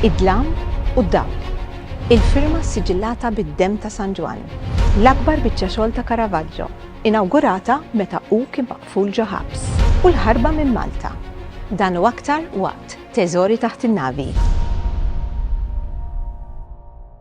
Id-dlam u d-dawl. Il-firma ssiġillata bid-demm ta' San Ġwann. L-akbar biċċa xogħol ta' Caravaggio, inawgurata meta hu kien maqful ġo ħabs. U l-ħarba minn Malta. Dan u aktar waqt Teżori taħt in-navi.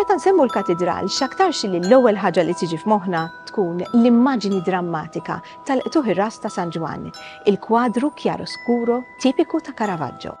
Meta nsemmu l-katidral, x'aktarx li l-ewwel ħaġa li tiġi f'moħħna tkun l-immaġini drammatika tal-qtugħ ir-ras ta' San Ġwann, il-kwadru chiaroscuro tipiku ta' Caravaggio.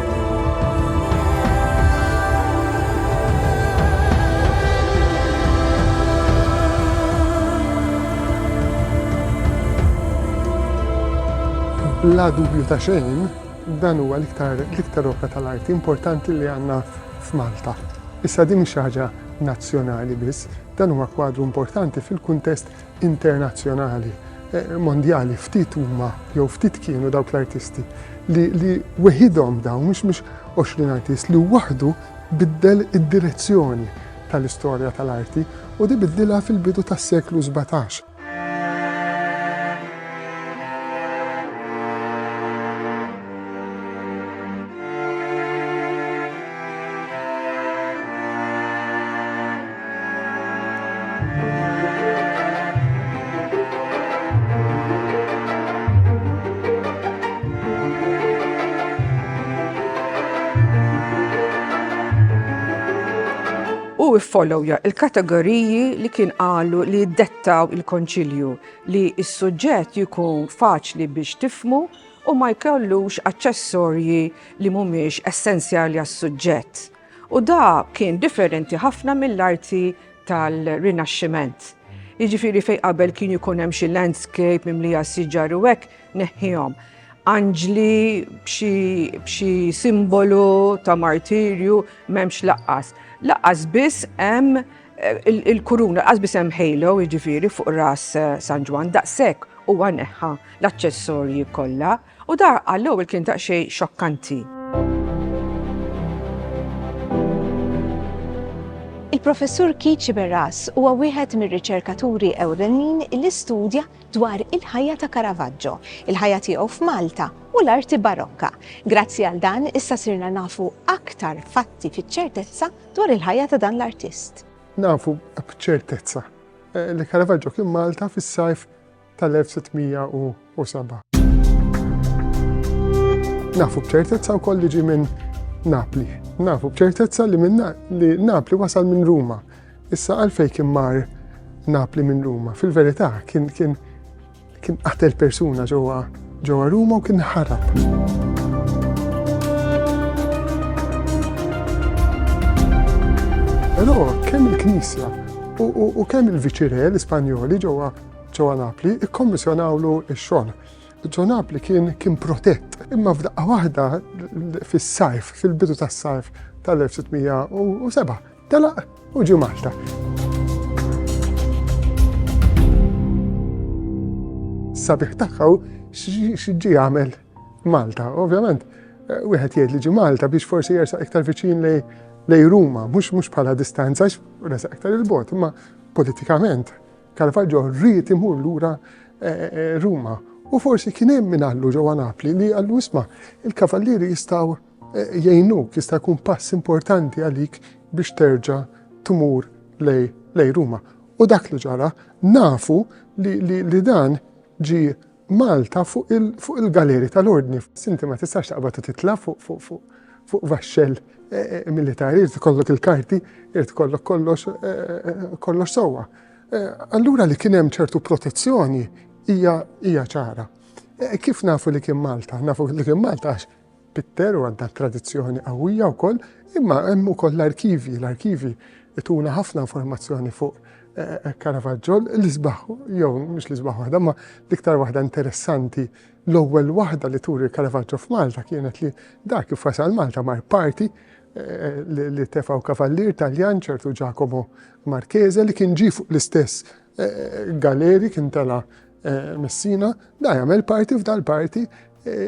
Bla dubju ta' xejn, dan huwa l-iktar l-iktar opra tal-arti importanti li għandna f'Malta. Issa din mhix xi ħaġa nazzjonali biss, dan huwa kwadru importanti fil-kuntest internazzjonali, mondjali, ftit huma jew ftit kienu dawk l-artisti li, li weħidhom dawn, mhux mhux 20 artist li waħdu biddel id-direzzjoni tal-istorja tal-arti u di biddilha fil-bidu tas-seklu 17. u iffollowja il-kategoriji li kien qalu li jiddettaw il-konċilju li s-suġġett jkun faċli biex tifmu u ma jkollux aċċessorji li mhumiex essenzjali għas-suġġett. U da kien differenti ħafna mill-arti tal-Rinaxximent. Jiġifieri fejn qabel kien jkun hemm xi landscape mimlija siġar u hekk neħħihom. Anġli b'xi simbolu ta' martirju m'hemmx laqqas. Laqqas biss hemm il-kuruna, laqqas biss hemm halo jiġifieri fuq ras San Ġwann, daqshekk huwa neħħa l-aċċessorji kollha. U da għall-ewwel kien daqsxejn xokkanti. Il-Professur Keith Sciberras huwa wieħed mir-riċerkaturi ewlenin li studja dwar il-ħajja ta' Caravaggio, il-ħajja tiegħu f'Malta u l-arti Barokka. Grazzi għal dan issa sirna nafu aktar fatti fiċ-ċertezza dwar il-ħajja ta' dan l-artist. Nafu b'ċertezza eh, li Caravaggio kien Malta fis-sajf tal-1607. Nafu b'ċertezza wkoll li ġie minn Napli. Nafu b'ċertezza li minn li Napli wasal minn Ruma. Issa għalfej kien mar Napli minn Ruma. Fil-verità kien kien kien qatel persuna ġewwa ġewwa Ruma u kien ħarab. Però kemm il-Knisja u kemm il-viċire l-Ispanjoli ġewwa ġewwa Napli ikkommissjonawlu x-xogħol. Ġo Napli kien kien protett. Imma f'daqqa waħda fis-sajf, fil-bidu tas-sajf tal-1607, telaq u ġi Malta. Sabiħ tagħha x'ġi għamel Malta. Ovvjament, eh, wieħed jgħid li ġi Malta biex forsi jersaq iktar viċin lej lej Ruma, mhux mhux bħala distanza, resaq iktar il-bot, imma politikament Caravaggio ried imur lura Ruma u forsi kien hemm min għallu ġewwa Napli li għallu isma' il-kavallieri jistgħu jgħinuk, jista' jkun pass importanti għalik biex terġa' tmur lej Ruma. U dak li ġara nafu li dan ġi Malta fuq il-galeri tal-ordni. Sinti ma tistax taqbad u titla fuq vaxxel eh, eh, militari, irid kollok il-karti, irid kollok kollox eh, sewwa. Allura li kien hemm ċertu protezzjoni hija ċara. Kif nafu li kien Malta? Nafu li kien Malta għax Pitter u għandna tradizzjoni qawwija wkoll, imma hemm ukoll l-arkivji, l-arkivji ituna ħafna informazzjoni fuq eh, eh, Caravaggio, l-isbaħ, jew mhux l-isbaħ waħda, ma l-iktar waħda interessanti l-ewwel waħda li turi Caravaggio f'Malta kienet li dak kif wasal Malta mar parti eh, li tefaw kavallier Taljan ċertu Giacomo Marchese li kien ġi fuq l-istess Galeri kien tela Messina, da jagħmel parti f'dal parti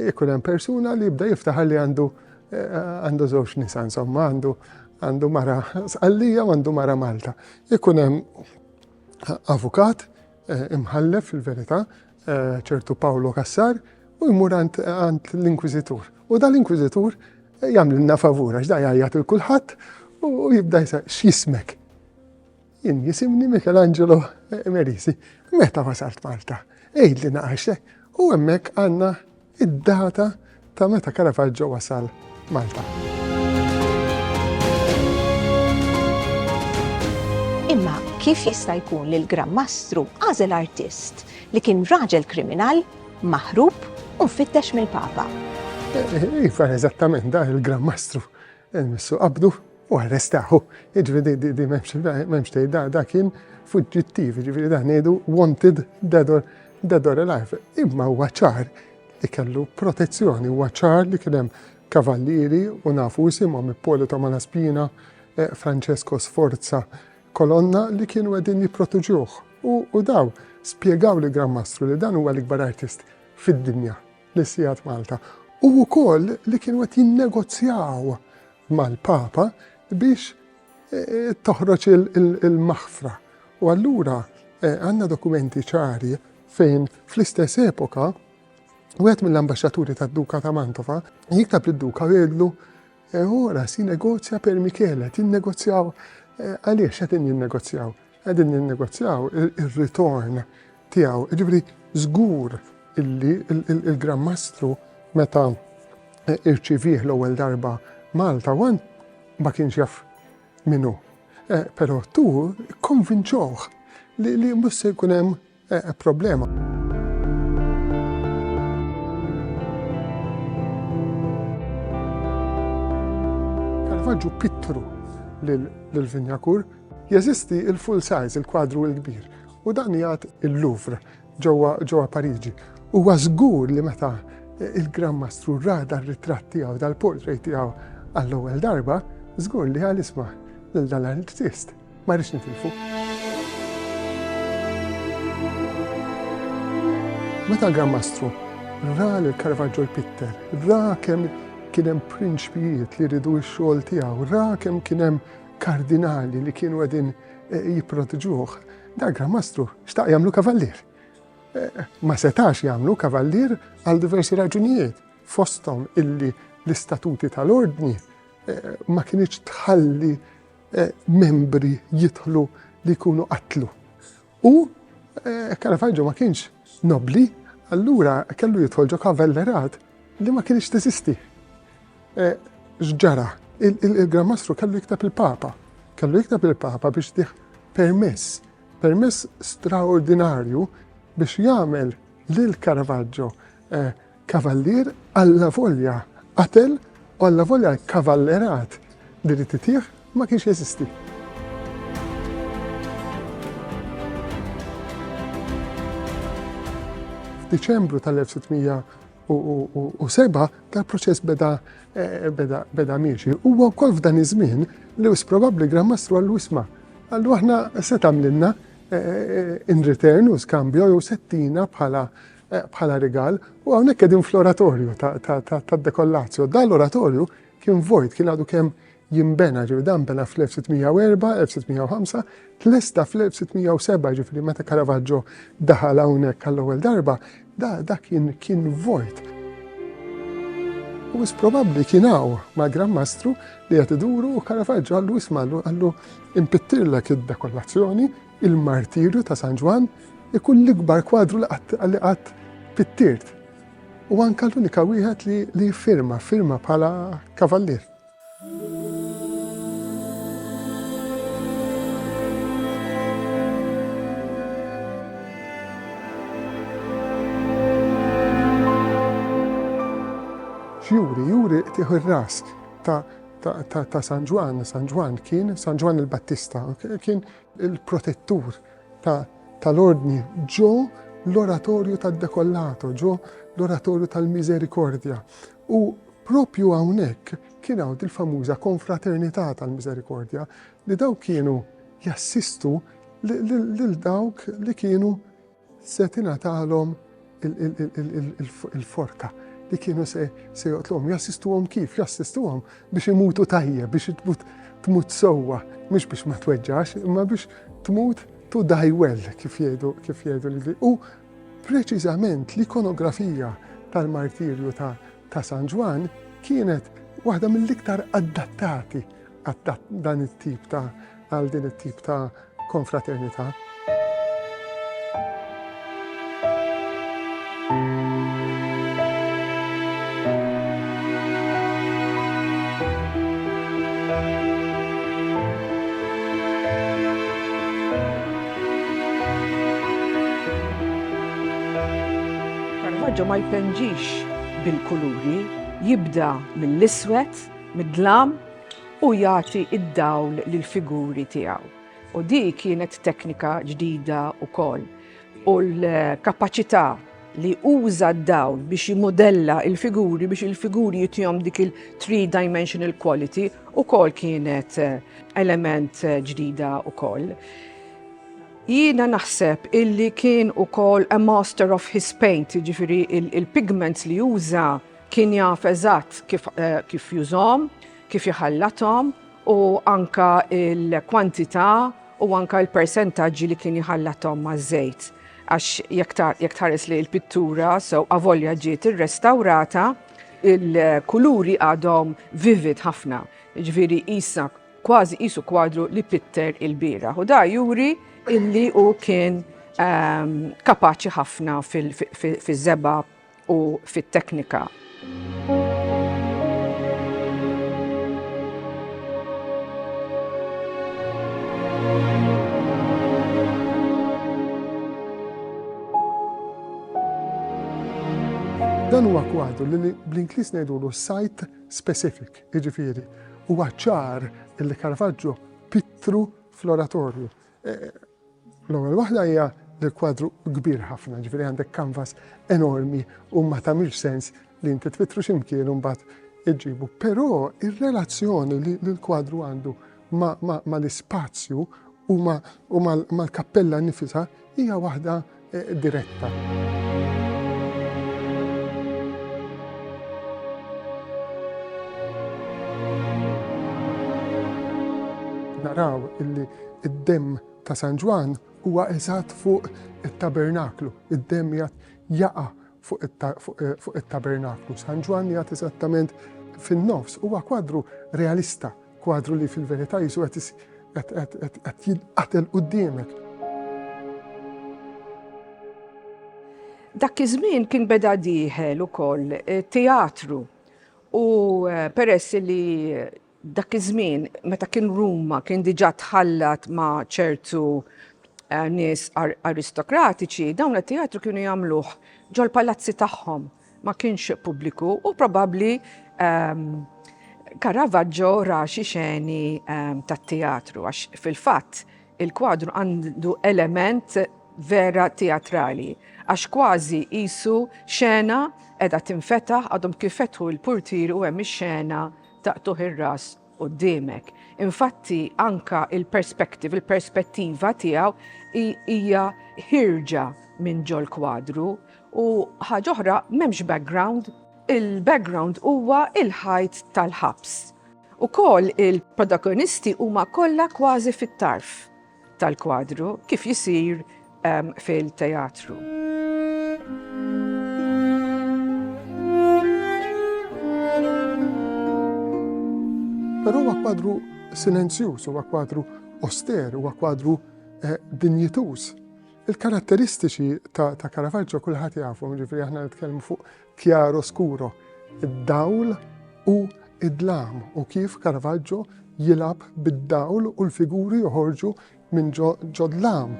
ikun hemm persuna li jibda jiftaħar li għandu għandu żewġ nisa insomma għandu għandu mara sqallija u għandu mara Malta. Ikun hemm avukat eh, imħallef fil-verità eh, ċertu Paolo Kassar u jmur għand l-inkwizitur. U da l-inkwizitur eh, jagħmlilna favura x'da jgħajjat il-kulħadd u jibda jsa x'jismek. Jien jisimni Michelangelo Merisi. Meta wasalt Malta? Ejd li naqaxte u hemmhekk għandna id-data ta' meta Caravaggio wasal Malta. Imma kif jista' jkun li l-Gran Mastru għażel artist li kien raġel kriminal, maħrub u mfittex mill-Papa? Iva, eżattament, da il-Gran Mastru, il-Missu Qabdu, U arrestahu. Jiġifieri di, di m'hemmx, m'hemmx tgħid, da, da kien fuġġittiv, jiġifieri da ngħidu wanted dead or, dead or alive. Imma huwa ċar li kellu protezzjoni, huwa ċar li kien hemm kavallieri u nafu isimhom Ippolito Malaspina, eh, Francesco Sforza, Kolonna li kienu qegħdin jipprotuġuh. U, u daw spjegaw li Gran Mastru li dan huwa l-ikbar artist fid-dinja li sijat Malta. U wkoll li kienu qed jinnegozjaw mal-Papa biex toħroġ il-maħfra. U allura għandna dokumenti ċari fejn fl-istess epoka Wieħed mill-ambasċaturi tad-Duka ta' Mantova jiktab lid-Duka u jgħidlu ora si negozja per Michele, tinnegozjaw għaliex qed jinnegozjaw. Qegħdin ninnegozjaw ir-ritorn tiegħu. Jiġifieri żgur illi il-Gran Mastru meta irċivieh l-ewwel darba Malta wan ma kienx jaf min hu. Però tu konvinċuh li mhux se jkun hemm Eh, problema. Caravaggio pittru l-Vinjakur. Jeżisti il-full size, il-kwadru il-kbir, u dan jgħat il-Louvre ġewwa Pariġi. U żgur li meta il-Gran Mastru rada r-ritratt tiegħu dal-portrait tiegħu għall-ewwel darba, żgur li għal isma' lil dan l-artist. Ma rridx nitilfu. Meta l-Gran Mastru ra li l-Caravaggio jpitter, ra kemm kien hemm prinċpijiet li ridu x-xogħol tiegħu, ra kemm kien hemm kardinali li kienu qegħdin eh, jipprotiġuh, dak gran mastru xtaq jagħmlu kavallier. Eh, ma setax jagħmlu kavallier għal diversi raġunijiet, fosthom illi l-istatuti tal-ordni eh, ma kienx tħalli membri jidħlu li jkunu qatlu. U Caravaggio ma kienx nobli, allura kellu jidħol ġo kavellerat li ma kienx teżisti. X'ġara? Il-Gran Mastru kellu jikteb il-Papa. Kellu jikteb il-Papa biex diħ permess, permess straordinarju biex jagħmel lil Caravaggio Kavallier allavolja qatel u allavolja l-kavallerat li ried itih ma kienx jeżisti. F'Diċembru tal-1607 tal-proċess beda eh, beda miexi. Huwa wkoll f'dan iż-żmien li wis probabbli Gran Mastru għallu isma' għallu aħna se tagħmlilna eh, in return u skambju jew settina bħala bħala rigal, u hawnhekk qegħdin fl-oratorju tad-Dekollazio. Dan l-oratorju kien vojt, kien għadu kemm jimbena, ġifieri dan bena fl-1604, 1605, tlesta fl-1607, ġifieri meta Caravaggio daħal hawnhekk għall-ewwel darba, da, da kien kien vojt. U is probabbli kien hawn ma' Gran Mastru li qed iduru u Caravaggio għallu isma' għallu impittirlek id-dekollazzjoni Il-martirju ta' San Ġwann ikun l-ikbar kwadru li qatt pittirt u anke l-unika wieħed li jiffirma, firma bħala kavallier. X'juri? Juri tieħu r-ras ta' San Ġwann, San Ġwann kien San Ġwann il-Battista, kien il-protettur tal-ordni ġo l-oratorju tad-dekollato, ġo l-oratorju tal-miżerikordja. U propju hawnhekk kien hawn il-famuża konfraternità tal-miżerikordja li dawk kienu jassistu lil dawk li kienu Se tingħatalhom il-forka li kienu se joqtluhom. Jassistuhom kif? Jassistuhom biex imutu tajjeb, biex tmut sewwa, mhux biex ma tweġġax, imma biex tmut tu dajwell kif jgħidu kif jgħidu li u preċiżament l-ikonografija tal-martirju ta' San Ġwan kienet waħda mill-iktar adattati għal dan it-tip ta' għal din it-tip ta' konfraternità. Caravaggio ma jpenġix bil-kuluri, jibda mill-iswed, mid-dlam, u jagħti d-dawl lill-figuri tiegħu. U di kienet teknika ġdida wkoll. U l-kapaċità li uża d-dawl biex jimudella il-figuri biex il-figuri jitjom dik il-three-dimensional quality u kol kienet eh, element eh, ġdida u kol. Jiena naħseb illi kien u kol a master of his paint, ġifiri il-pigments li uża Kien jaf eżatt kif, eh, kif jużhom, kif jħallathom u anka il-kwantità u anka l-persentaġġi li kien jħallathom maż-żejt. Għax jekk tħares li l-pittura sew avolja ġiet irrestawrata, il-kuluri għadhom vivid ħafna. Ġifieri qisha kważi qisu kwadru li pitter il-bira. U da juri illi u kien ehm, kapaċi ħafna fil-żeba u fit-teknika. Dan huwa kwadru li bl-Ingliż ngħidulu site specific, jiġifieri huwa ċar li Caravaggio pittru fl-oratorju. L-ewwel waħda hija li l-kwadru kbir ħafna, ġifieri għandek kanvas enormi u ma tagħmilx sens li inti tfittru x'imkien u mbagħad iġġibu. Però ir-relazzjoni li l-kwadru għandu mal-ispazju u mal-kappella nifisha hija waħda diretta. naraw illi id-dem ta' San Ġwan huwa eżatt fuq it-tabernaklu, id-dem jgħat jaqa' fuq it-Tabernaklu. San Ġwann jgħid eżattament fin-nofs. Huwa kwadru realista, kwadru li fil-verità Ġesu qed jinqatel quddiemek. Dak iż-żmien kien beda dieħel ukoll teatru u peress li Dak iż-żmien meta kien Ruma kien diġà tħallat ma' ċertu nies aristokratiċi, dawn it-teatru kienu jagħmluh ġol-palazzi tagħhom, ma kienx pubbliku u probabbli Caravaggio ra xi xeni tat-teatru għax fil-fatt il-kwadru għandu element vera teatrali għax kważi qisu xena qiegħda tinfetaħ għadhom kif fetħu l-purtieri u hemm ix-xena taqtugħ ir-ras quddiemek. Infatti anka il-perspective, il-perspettiva tiegħu hija ħirġa minn ġol kwadru u ħaġa oħra m'hemmx background. Il-background huwa il-ħajt tal-ħabs. Ukoll il-protagonisti huma kollha kważi fit-tarf. tal-kwadru kif jisir fil-teatru. Però huwa kwadru silenzjuż, huwa kwadru oster, huwa kwadru eh, dinjituż. Il-karatteristiċi ta', ta Caravaggio kulħadd jafhom, ġifieri aħna nitkellmu fuq Chiaro scuro, id-dawl u d-dlam, u kif Caravaggio jilgħab bid-dawl u l-figuri joħorġu minn ġo dlam.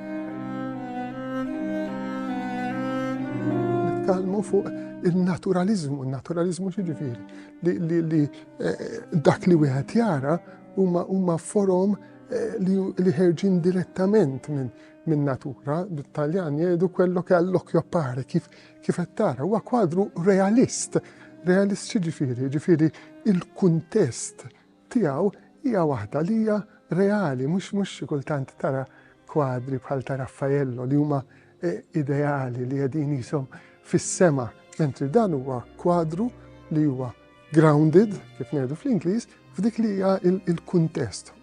Nitkellmu fuq il-naturalizmu, il-naturalizmu xiġifieri li eh, dak li wieħed jara huma forom eh, li ħerġin direttament minn natura, bit-Taljan jgħidu quello che all'occhio appare, kif Kif qed tara, huwa kwadru realist. Realist x'jiġifieri? Jiġifieri l-kuntest tiegħu hija waħda li hija reali, mhux mhux xi kultant tara kwadri bħal ta' Raffaello li huma ideali li qegħdin qishom fis-sema, mentri dan huwa kwadru li huwa grounded, kif ngħidu fl-Ingliż, f'dik li hija l-kuntest.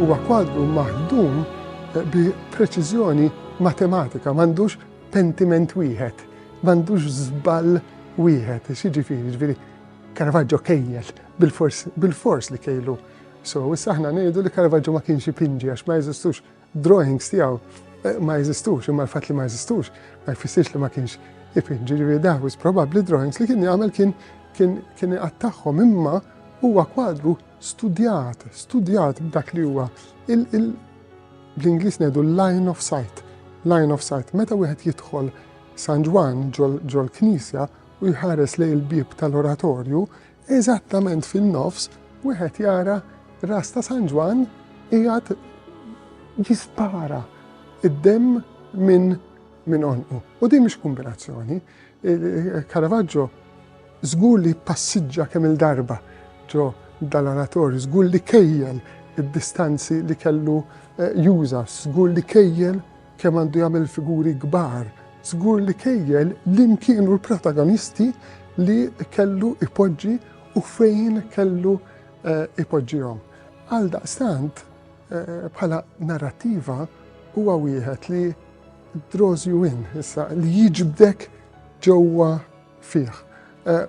Huwa kwadru maħdum bi preċiżjoni matematika, m'għandux pentiment wieħed, m'għandux żball wieħed, x'jiġifieri, ġifieri Caravaggio kejjel bil-fors li kejlu. So, issa aħna ngħidu li Caravaggio ma kienx ipinġi għax ma jeżistux drawings tiegħu eh, ma jeżistux, imma l-fatt li ma jeżistux ma jfissirx li ma kienx ipin, ġifieri daħwis probabbli drawings li kien jagħmel kien kien kien iqattagħhom imma huwa kwadru studjat, studjat b'dak li huwa l-Ingliż ngħidu line of sight, line of sight. Meta wieħed jidħol San Ġwan ġol-knisja u jħares lej il-bib tal-oratorju, Eżattament fin-nofs wieħed jara ras ta' San Ġwann qiegħed jispara id-demm minn minn onqu. U din mhix kombinazzjoni. Caravaggio żgur li passiġġa kemm il-darba ġo dal-oratorju, żgur li kejjel id-distanzi li kellu eh, juża, żgur li kejjel Kemm għandu jagħmel figuri kbar. Żgur li kejjel liem kienu l-protagonisti li kellu ipoġġi u fejn kellu ipoġġihom. Għaldaqstant, bħala narrattiva huwa wieħed li draws you in, issa, li jiġbdek ġewwa fih.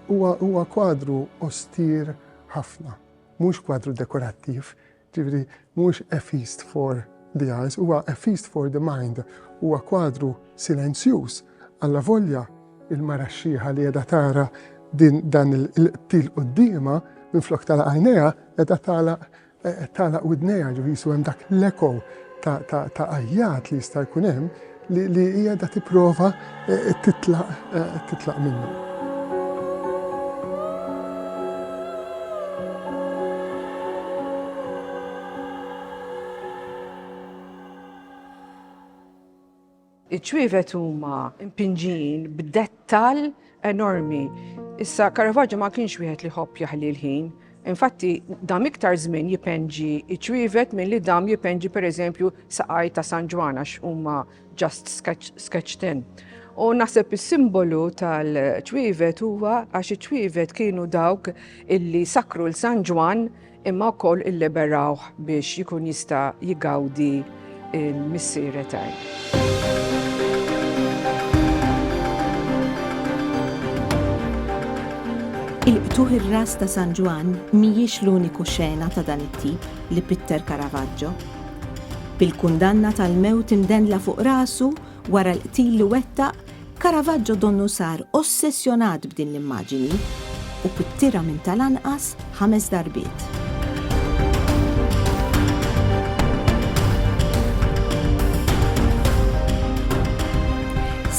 Huwa kwadru ostir ħafna. Mhux kwadru dekorattiv, Jiġifieri mhux A Feast for the Eyes, huwa A Feast for the Mind. Huwa kwadru silenzjuż, allavolja l-mara x-xiħa li qiegħda tara dan il-qtil quddiemha, minflok tagħlaq għajnejha, qiegħda tagħlaq tagħlaq widnejha, ġifieri jiswa hemm dak l-echo ta' għajjat li jista' jkun hemm. li li hija da tipprova eh, titlaq eh, titlaq minnu. Iċ-ċwievet huma impinġin b'dettal enormi. Issa, Caravaggio ma kienx wieħed li jħobb jaħli l-ħin. Infatti, dam iktar żmien jipenġi iċwivet milli dam jipenġi pereżempju saqaj ta' San Ġwan għax huma just sketch tin. U naħseb is-simbolu tal-ċwivet huwa għax iċ-ċwivet kienu dawk illi sakru l-San Ġwan imma wkoll illiberawh biex jkun jista' jgawdi l-Missier Etern. Il-qtugħ ir-ras ta' San Ġwann mhijiex l-uniku xena ta' dan it-tip li pitter Caravaggio. Bil-kundanna tal-mewt imdendla fuq rasu Wara l-qtil li wettaq, Caravaggio donnu sar ossessjonat b'din l-immaġini u pittirha minn tal-anqas ħames darbiet.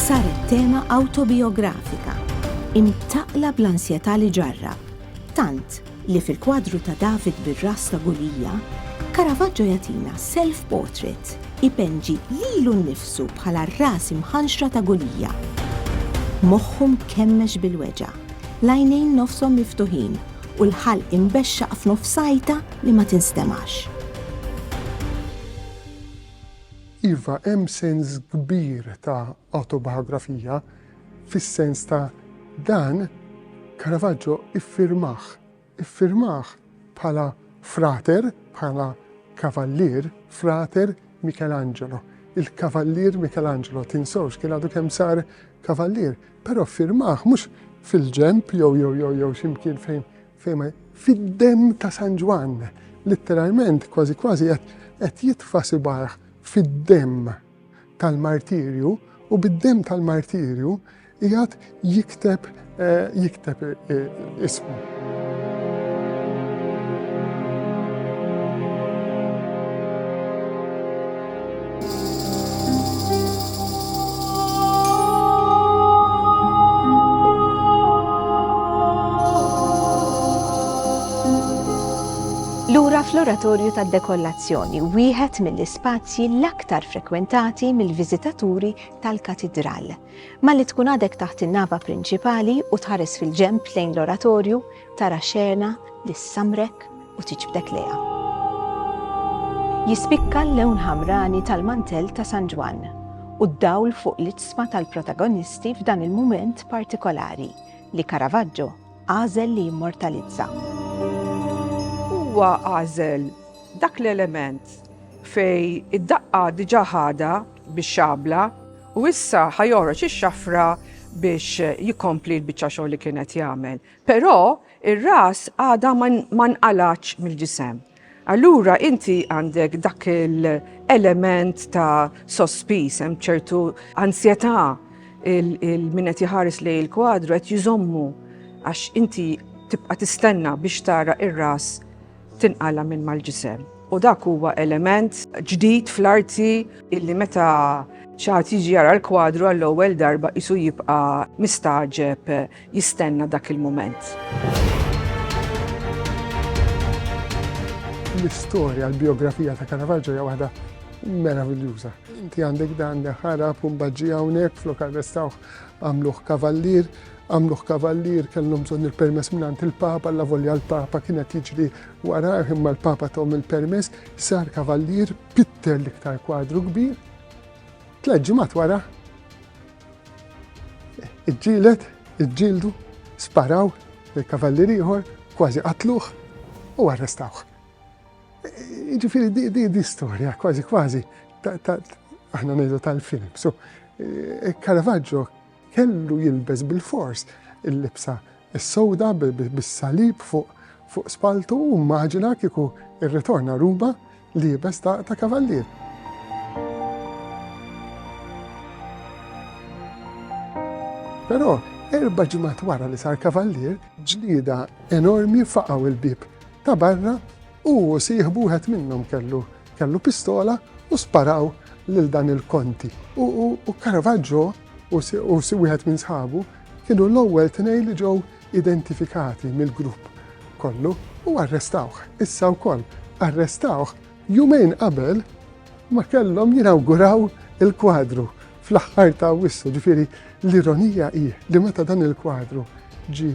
Saret tema awtobijografika, imtaqqla bl-ansjetà li ġarrab, tant li fil-kwadru ta' David bir-ras ta' Gulija, Caravaggio jagħtina self-portrait, ipenġi lilu nnifsu bħala r-ras imħanxra ta' Gulija. Moħħu mkemmex bil-weġgħa, l-għajnejn nofshom miftuħin u l-ħalq imbexxaq f'nofs għajta li ma tinstemax. Iva, hemm sens kbir ta' awtobihografija, Fis-sens ta' dan, Caravaggio iffirmah, iffirmah bħala frater, bħala kavallier, frater Michelangelo. Il-kavallier Michelangelo, tinsewx, kien għadu kemm sar kavallier, però ffirmah mhux fil-ġenb jew jew jew jew xi mkien fejn fejn ma fid-demm ta' San Ġwann. Litteralment, kważi kważi qed qed jitfa' sibgħajh fid-demm. tal-martirju u bid-demm tal-martirju qiegħed jikteb jikteb ismu. Lura fl-oratorju tad-dekollazzjoni, wieħed mill spazji l-aktar frekwentati mill-viżitaturi tal-katidral. Malli tkun għadek taħt in-nava prinċipali u tħares fil-ġenb lejn l-oratorju, tara xena li ssamrek u tiġbdek lejha. Jispikka l-lewn ħamrani tal-mantell ta' San Ġwann u d-dawl fuq l-itzma tal-protagonisti f'dan il-mument partikolari li Caravaggio għażel li jimmortalizza. Huwa għażel Dak l-element fejn id-daqqa diġà ħadha bix-xabla u issa ħa joħroġ ix-xafra biex jikkompli l-biċċa xogħol li kien qed jagħmel. Però ir-ras għadha ma nqalgħatx mill-ġisem. Allura inti għandek dak l-element ta' sospiż, hemm ċertu ansjetà il-min qed jħares lej il-kwadru qed jżommu għax inti tibqa' tistenna biex tara ir-ras tinqala' minn mal-ġisem. U dak huwa element ġdid fl-arti illi meta xi ħadd jiġi jara l-kwadru għall-ewwel darba qisu jibqa' mistagħġeb jistenna dak il-mument. L-istorja, l-bijografija ta' Caravaggio hija waħda meraviljuża. Inti għandek dan ħarab u mbagħad ġie hawnhekk flok arrestawh għamluh kavallier, Għamluh kavallier, kellhom bżonn il-permess mingħand il-Papa, allavolja l-Papa kien qed jiġri warajh imma l-Papa tahom il-permess, sar kavallier, pitter l-iktar kwadru kbir. Tliet ġimgħat wara iġġielet, iġġieldu, sparaw il-kavallier ieħor, kważi qatluh u arrestawh. Ġifiri, di di storja, kważi kważi, aħna nejdu tal-film. So, eh, Caravaggio Kellu jilbes bilfors il-libsa s-sewda bis-salib fuq spalltu u mmaġina kieku rritorna Ruma liebes ta' kavallier. Però erba' ġimgħat wara li sar kavallier, ġlieda enormi faqgħu l-bieb ta' barra Hu u sieħbu wieħed minnhom kellu kellu pistola u sparaw lil dan il-konti. U u Caravaggio u u wieħed minn sħabu kienu l-ewwel tnejn li ġew identifikati mill-grupp kollu u arrestawh. Issa wkoll arrestawh jumejn qabel ma kellhom jinawguraw il-kwadru fl-aħħar ta' Awwissu. Ġifieri l-ironija hi li meta dan il-kwadru ġie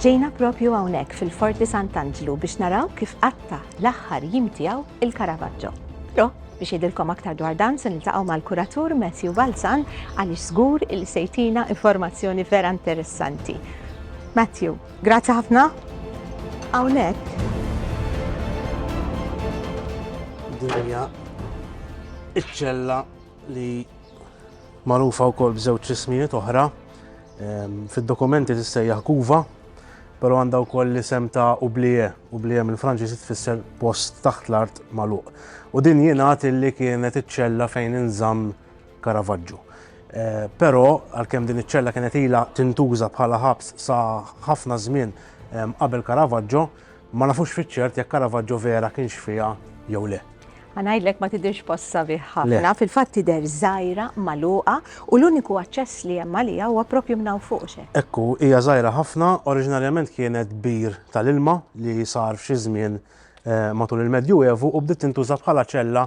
Ġejna proprju hawnhekk fil-Forti Sant'Anġlu biex naraw kif qatta' l-aħħar jiem tiegħu il-Caravaggio. Però, biex jgħidilkom aktar dwar dan se niltaqgħu mal-kuratur Matthew Balzan għaliex żgur li se jtina informazzjoni vera interessanti. Matthew, grazzi ħafna. Hawnhekk. Dinja iċ-ċella li magħrufa wkoll b'żewġ ismijiet oħra Fid-dokumenti tissejjaħ Kuva, però għandha wkoll l-isem ta' Ublije, Ublije mill-Franċiż tfisser post taħt l-art magħluq. U din jingħad illi kienet iċ-ċella fejn inżamm Karavaġġu. Eh, però għalkemm din iċ-ċella kienet ilha tintuża bħala ħabs sa ħafna żmien qabel Karavaġġo, Ma nafux fiċ-ċert jekk Caravaggio vera kienx fiha jew le. Ħa ngħidlek ma tidhirx post sabiħ ħafna, fil-fatt tidher żgħira, magħluqa u l-uniku aċċess li hemm għaliha huwa proprju minn hawn fuq x'hekk. Hekk hu, hija żgħira ħafna, oriġinarjament kienet bir tal-ilma li sar f'xi żmien matul il-Medjuevu u bdiet tintuża bħala ċella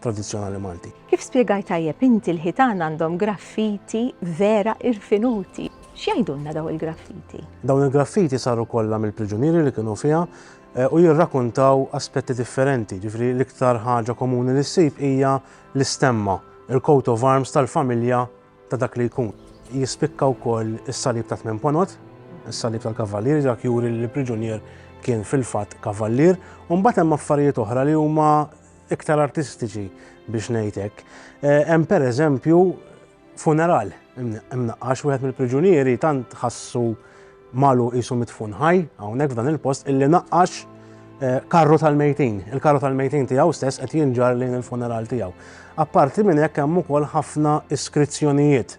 tradizzjonali Malti. Kif spjegajt tajjeb inti l-ħitan għandhom graffiti vera irfinuti. X'jgħidulna daw il-graffiti? Dawn il-graffiti saru kollha mill-priġunieri li kienu fiha eh, u jirrakuntaw aspetti differenti, ġifri l-iktar ħaġa komuni li ssib hija l-istemma, il-coat of arms tal-familja ta' dak li jkun. Jispikka wkoll is-salib ta' tmien ponot, is-salib tal-kavallier, dak juri li l-priġunier kien fil-fatt kavallier, u mbagħad hemm affarijiet oħra li huma iktar artistiċi biex ngħid hekk. Eh, hemm pereżempju funeral imnaqqax wieħed mill-priġunieri tant ħassu malu qisu mitfun ħaj hawnhekk f'dan il-post illi naqqax eh, karru tal-mejtin. Il-karru tal-mejtin tiegħu stess qed jinġar lejn il-funeral tiegħu. Apparti minn hekk hemm ukoll ħafna iskrizzjonijiet.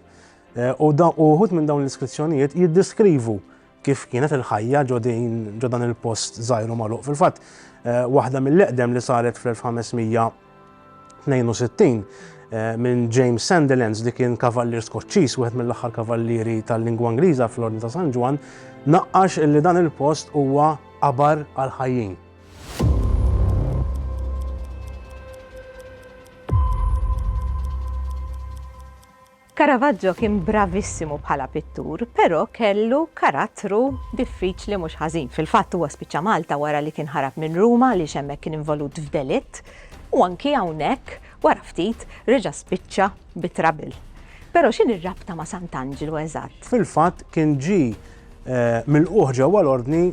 Eh, u uħud minn dawn l-iskrizzjonijiet jiddiskrivu Kif kienet il-ħajja ġo din ġo dan il-post żgħir u magħluq? Fil-fatt, waħda mill-eqdem li saret fl-1562 minn James Sandilands li kien kavallier Skoċċiż, wieħed mill-aħħar kavallieri tal-lingwa Ingliża fl-Ordni ta' San Ġwann, naqqax li dan il-post huwa qabar għall-ħajjin. Caravaggio kien bravissimu bħala pittur, però kellu karattru diffiċli mhux ħażin. Fil-fatt huwa spiċċa Malta wara li kien ħarab minn Ruma għaliex hemmhekk kien involut f'delitt u anki hawnhekk wara ftit reġa' spiċċa bi trabil. Però x'in ir-rabta ma' Sant'Anġlu eżatt? Fil-fatt kien ġi eh, mill-qoħ ġewwa l-ordni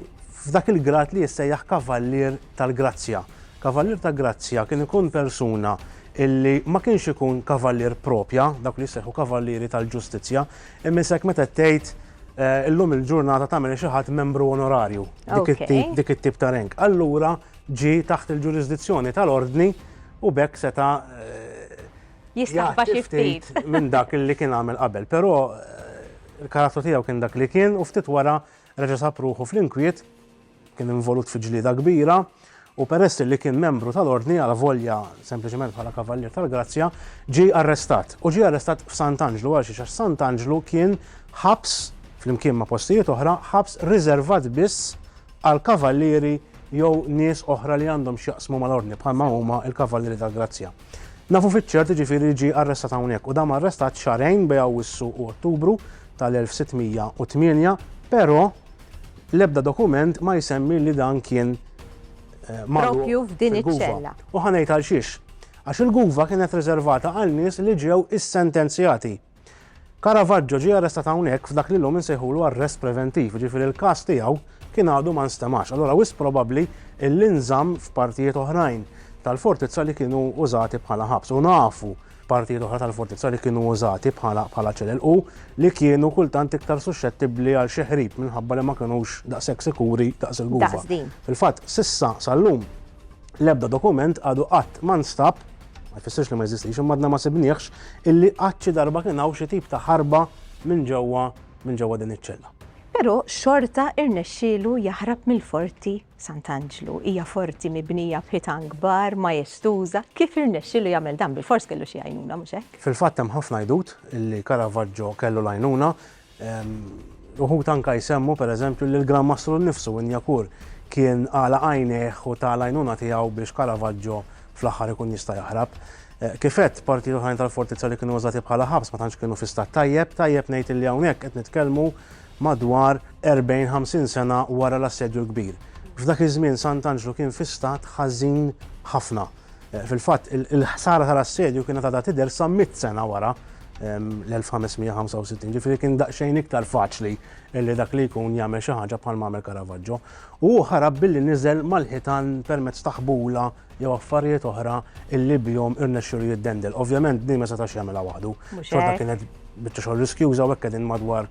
f'dak il-grad li jissejjaħ kavallier tal-grazzja. Kavallier tal-grazzja kien ikun persuna illi ma kienx ikun kavallier propja, dawk li jissejħu kavallieri tal-ġustizzja, imisek meta tgħid illum il-ġurnata ta' minn xi ħadd membru onorarju, dik it-tip ta' rank. Allura ġie taħt il-ġurisdizzjoni tal-Ordni u b'hekk seta' jistaħba xi ftit minn dak li kien għamel qabel. Però il-karattru tiegħu kien dak li kien u ftit wara reġa' sab ruħu fl-inkwiet. Kien involut fi ġlieda kbira u peress li kien membru tal-Ordni alavolja sempliċement bħala Kavallier tal-Grazzja, ġie arrestat. U ġie arrestat f'Sant'Anġlu għalxiex għax Sant'Anġlu kien ħabs, flimkien ma' postijiet oħra, ħabs riservat biss għal kavallieri jew nies oħra li għandhom x'jaqsmu mal-Ordni bħalma huma l-Kavallieri tal-Grazzja. Nafu fiċ-ċert jiġifieri li ġie arrestat hawnhekk u dam arrestat xahrejn bej Awwissu u Ottubru tal-1608, però l-ebda dokument ma jsemmi li dan kien eh, propju f'din iċ-ċella. U ħanejt għal xiex. Għax il-guva kienet riservata għal nies li ġew issentenzjati. Caravaggio ġie arrestat hawnhekk f'dak li llum insejħulu arrest preventiv, jiġifieri l-każ tiegħu kien għadu ma nstemax, allura wisq probabbli illi nżamm f'partijiet oħrajn tal-fortizza li kienu użati bħala ħabs. U nafu partijiet oħra tal-fortizza li kienu użati bħala bħala ċelel u li kienu kultant iktar suxxettibbli għal xi ħrib minħabba li ma kinux daqshekk sikuri daqs il-gufa. Fil-fatt, sissa sal-lum l-ebda dokument għadu qatt ma nstab ma jfissirx li ma jeżistix, imma għadna ma sibniex illi qatt xi darba kien hawn xi tip ta' ħarba minn ġewwa minn ġewwa din iċ-ċella. Però xorta irnexxielu jaħrab mill-Forti Sant'Anġlu. Hija forti mibnija b'ħitan kbar, majestuża, kif irnexxielu jagħmel dan bilfors kellu xi għajnuna, mhux hekk? Fil-fatt hemm ħafna għidut illi Caravaggio kellu l-għajnuna Uħud anke jsemmu, per eżempju, li l-Gran Mastru nnifsu, Inyakur, kien għalaq għajnejh u ta l-għajnuna tiegħu biex Caravaggio fl-aħħar ikun jista' jaħrab. Kif għedt, partijiet oħrajn tal-fortizza li kienu użati bħala ħabs ma tantx kienu fi stat tajjeb, tajjeb ngħid li hawnhekk qed nitkellmu madwar 40, 50 sena wara l-Assedju l-Kbir. F'dak iż-żmien Sant'Anġlu kien fi stat ħażin ħafna. Fil-fatt, il-ħsara tal-assedju kienet għadha tidher sa mitt sena wara l-1565, ġifieri kien daqsxejn iktar faċli li dak li jkun jagħmel xi ħaġa bħal m'għamel Caravaggio. U hu ħarab billi niżel mal-ħitan permezz ta' ħbula jew affarijiet oħra illi bihom irnexxielu jiddendel. Ovvjament din ma setax jagħmilha waħdu. Xorta kienet biċċa xogħol riskjuża u hekk qegħdin madwar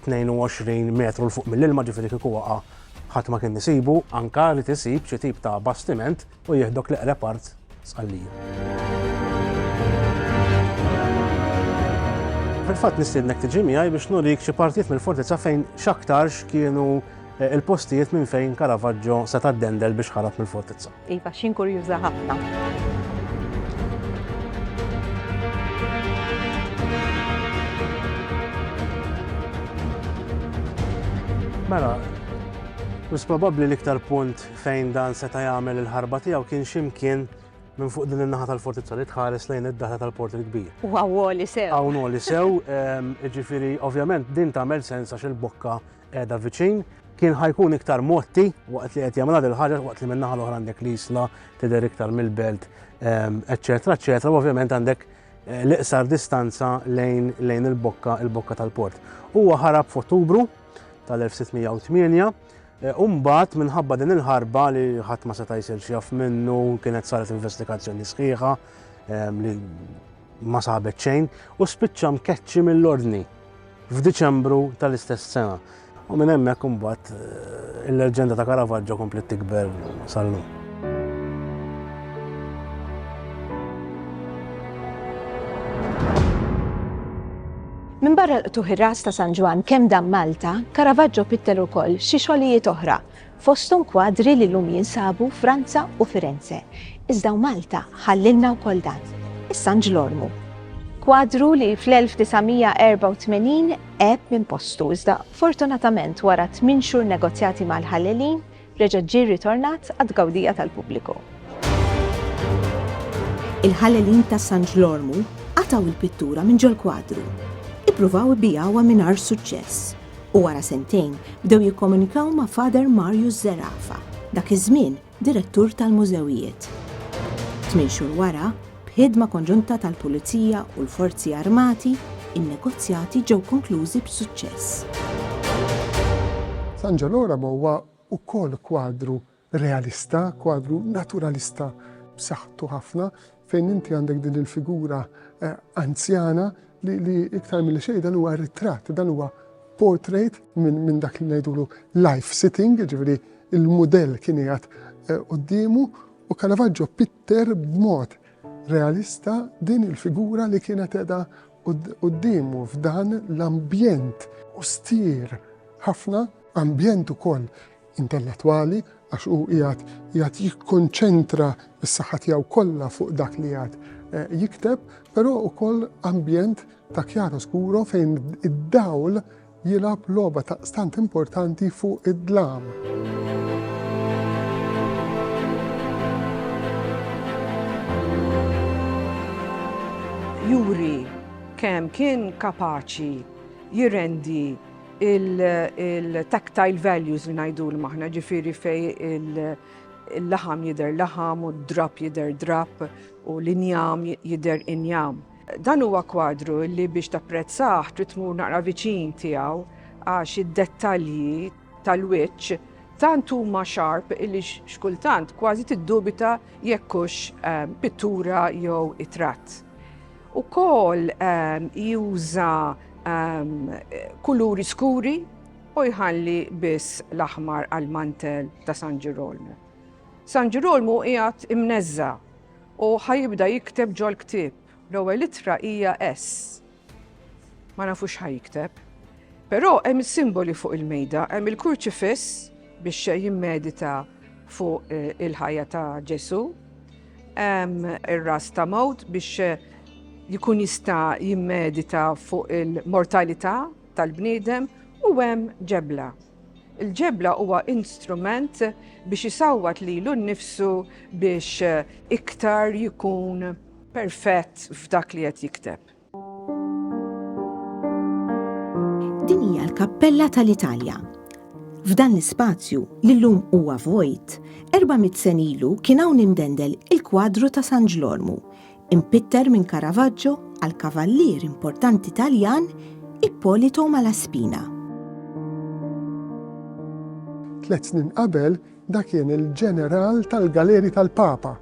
22 metru l fuq mill-ilma ġifieri kieku waqa' ħadd ma kien isibu, anka li tisib xi tip ta' bastiment u jieħdok l-eqreb art Sqallija. Fil-fatt nistiednek tiġi miegħi biex nurik xi partijiet mill-fortizza fejn x'aktarx kienu eh, il-postijiet minn fejn Caravaggio se taddendel biex ħarab mill-fortizza. Iva, xin kurjuża ħafna. Mela, mis probabbli l-iktar punt Fejn dan seta' jagħmel il-ħarba tiegħu kien xi mkien minn fuq din in-naħa tal-fortizza li tħares lejn id-daħla tal-Port il-Kbir. U hawn għoli sew. Hawn għoli sew, jiġifieri ovvjament din tagħmel sens għax il-bokka qiegħda viċin. Kien ħa jkun iktar mgħotti waqt li qed jagħmilha dil-ħaġa waqt li min-naħa l-oħra għandek l-Isla tidher iktar mill-belt, eċċetera, eċċetera, u ovvjament għandek l-iqsar distanza lejn lejn il-bokka il-bokka tal-port. Huwa ħarab f'Ottubru tal-1608 U mbagħad, minħabba din il-ħarba li ħadd ma seta' jsir xi jaf minnu, kienet saret investigazzjoni sħiħa li ma sabet xejn u spiċċa mkeċċi mill-Ordni f'Diċembru tal-istess sena. U minn hemmhekk imbagħad il-leġġenda ta' Caravaggio kompliet tikber sal-lum. Minbarra l-qtugħ ir-ras ta' San Ġwann kemm dam Malta, Caravaggio pittel ukoll xi xogħlijiet oħra, fosthom kwadri li llum jinsabu Franza u Firenze. Iżda u Malta ħallilna wkoll dan, is-San Ġlormu. Kwadru li fl-1984 għeb minn postu iżda fortunatament wara tmien xhur negozjati mal-ħallelin, reġgħet ġie rritornat għat-tgawdija tal-pubbliku. Il-Ħallelin ta' San Ġlormu qatgħu l-pittura minn ġol-kwadru. Ippruvaw ibigħuha mingħajr suċċess u wara sentejn bdew jikkomunikaw ma' Father Marius Zerafa, dak iż-żmien direttur tal-mużewijiet. Tmien xhur wara, B'ħidma konġunta tal-Pulizija u l-Forzi Armati, in-negozjati ġew konklużi b'suċċess. San Ġoloramo huwa wkoll kwadru realista, kwadru naturalista b'saħħtu ħafna fejn inti għandek din il-figura anzjana li li iktar milli xejn dan huwa ritratt, dan huwa portrait minn min dak li ngħidulu life sitting, jiġifieri l-mudell kien qiegħed quddiemu u Caravaggio Deher b'mod realista din il-figura li kienet qiegħda quddiemu f'dan l-ambjent ostier ħafna, ambjent ukoll intellettwali għax hu qiegħed qiegħed jikkonċentra s-saħħa tiegħu kollha fuq dak li qiegħed jikteb, però ukoll ambjent ta' chiaroscuro fejn id-dawl jilgħab logħba daqstant importanti fuq id-dlam. juri kemm kien kapaċi jirrendi il-tactile values li najdu l-maħna ġifiri fej il-laħam jider laħam u d-drap jider drap u l-injam jider injam. Dan huwa kwadru li biex tapprezzah trid tmur naqra viċin tiegħu għax id-dettalji tal-wiċċ tant huma sharp li x'kultant kważi tiddubita jekk hux ehm, pittura jew itratt. Ukoll ehm, juża ehm, kuluri skuri u jħalli biss l-aħmar għal mantel ta' San Ġirolmu. San Ġirolmu qiegħed imneżża' U ħa jibda jikteb ġol-ktieb. L-ewwel ittra hija S. Ma nafux x'ħa jikteb. Però hemm is-simboli fuq il-mejda, hemm il-kurċifiss biex jimmedita fuq eh, il-ħajja ta' Ġesu, hemm ir-ras ta' mewt biex eh, jkun jista' jimmedita fuq il-mortalità tal-bniedem u hemm ġebla. Il-ġebla huwa instrument biex isawwat lilu nnifsu biex iktar jkun perfett f'dak li qed jikteb. Din hija l-Kappella tal-Italja. F'dan l-ispazju, li llum huwa vojt, 400 sen ilu kien hawn imdendel il-kwadru ta' San Ġlormu, Impitter minn Caravaggio għal kavallier importanti Taljan Ippolito Malaspina. Tliet snin qabel da kien il-ġeneral tal-galeri tal-Papa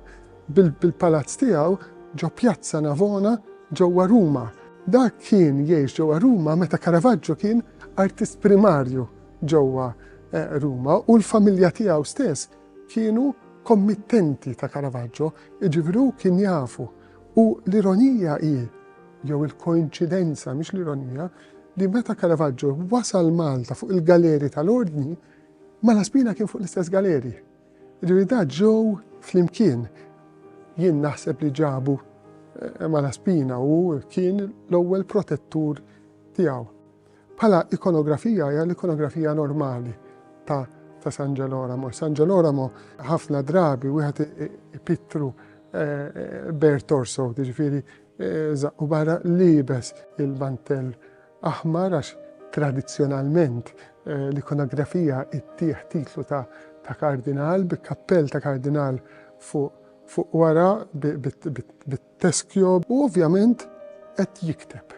bil-palazz tiegħu ġo Pjazza Navona ġewwa Ruma. Da kien jgħix ġewwa Ruma meta Caravaggio kien artist primarju ġewwa eh, Ruma u l-familja tiegħu stess kienu kommittenti ta' Caravaggio, jiġifieri hu kien jafu. U l-ironija hi, jew il-koinċidenza mhix l-ironija, li meta Caravaggio wasal Malta fuq il-galeri tal-Ordni, Malaspina kien fuq l-istess galeri. Jiġifieri da ġew flimkien. Jien naħseb li ġabu eh, Malaspina u kien l-ewwel protettur tiegħu. Bħala ikonografija hija l-ikonografija normali ta' ta' San Ġeloramo. San Ġeloramo ħafna drabi wieħed ipittru bare torso, jiġifieri żaqqu barra liebes il-mantell aħmar għax tradizzjonalment l-ikonografija ttieħ titlu ta' ta' kardinal bi kappell ta' kardinal fuq fuq wara bi Teschio, u ovvjament qed jikteb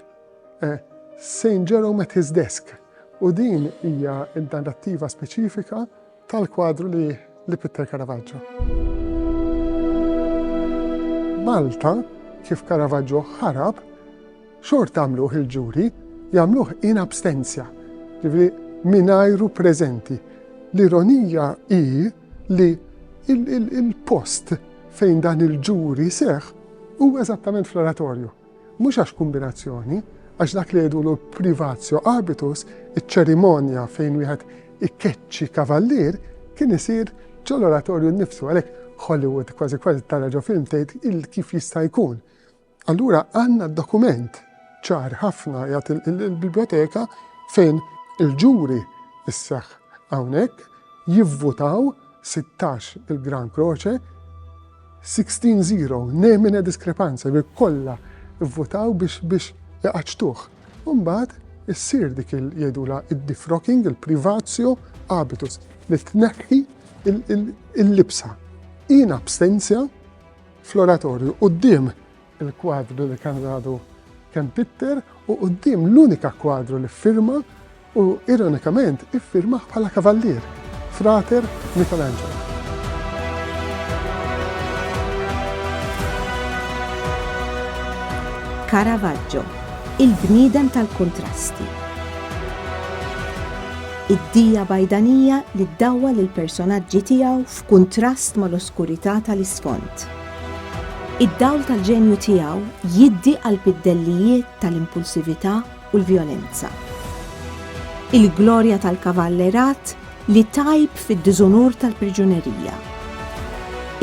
Saint Jerome at his desk, u din hija n-narrattiva speċifika tal-kwadru li l-ippitter Caravaggio. Malta, kif Caravaggio ħarab, xorta għamluh il-ġuri, jagħmluh in abstentia, jiġifieri mingħajru preżenti. L-ironija hi li il-post fejn dan il-ġuri seħ u eżattament fl-oratorju. Mhux għax kombinazzjoni, għax dak li jgħidu l privatio abitus, iċ-ċerimonja fejn wieħed ikkeċċi kavallier, kien isir ġol-oratorju nnifsu, għalhekk Hollywood kważi kważi tara ġo film tgħid il kif jista' jkun. Allura għandna dokument ċar ħafna jagħti l-biblioteka fejn il-ġuri isseħħ hawnhekk jivvutaw 16 il-Gran Croce 16-0 nemina diskrepanza bi kollha vvutaw biex biex iqaċtuh. Umbagħad issir dik il jgħidula id-defrocking, il-privatio habitus li tneħħi il-libsa. Jien abstenzja fl-oratorju quddiem il-kwadru li kien għadu kemm pitter u quddiem l-unika kwadru li ffirma u ironikament iffirmah bħala kavallier, frater Michelangelo. Caravaggio, il-bniedem tal-kuntrasti. Id-dija bajdanija li ddawwa lill-personaġġi tiegħu f'kuntrast mal-oskurità tal-isfond. Id-dawl tal-ġenju tiegħu jiddi għall-biddellijiet tal-impulsività u l-vjolenza. Il-glorja tal-kavallerat li tgħib fid-diżunur tal-priġunerija.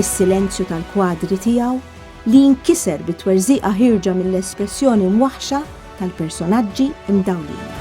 Is-silenzju tal-kwadri tiegħu li jinkiser bi twerżiqa ħierġa mill-espressjoni mwaħħxa tal-personaġġi mdawlin.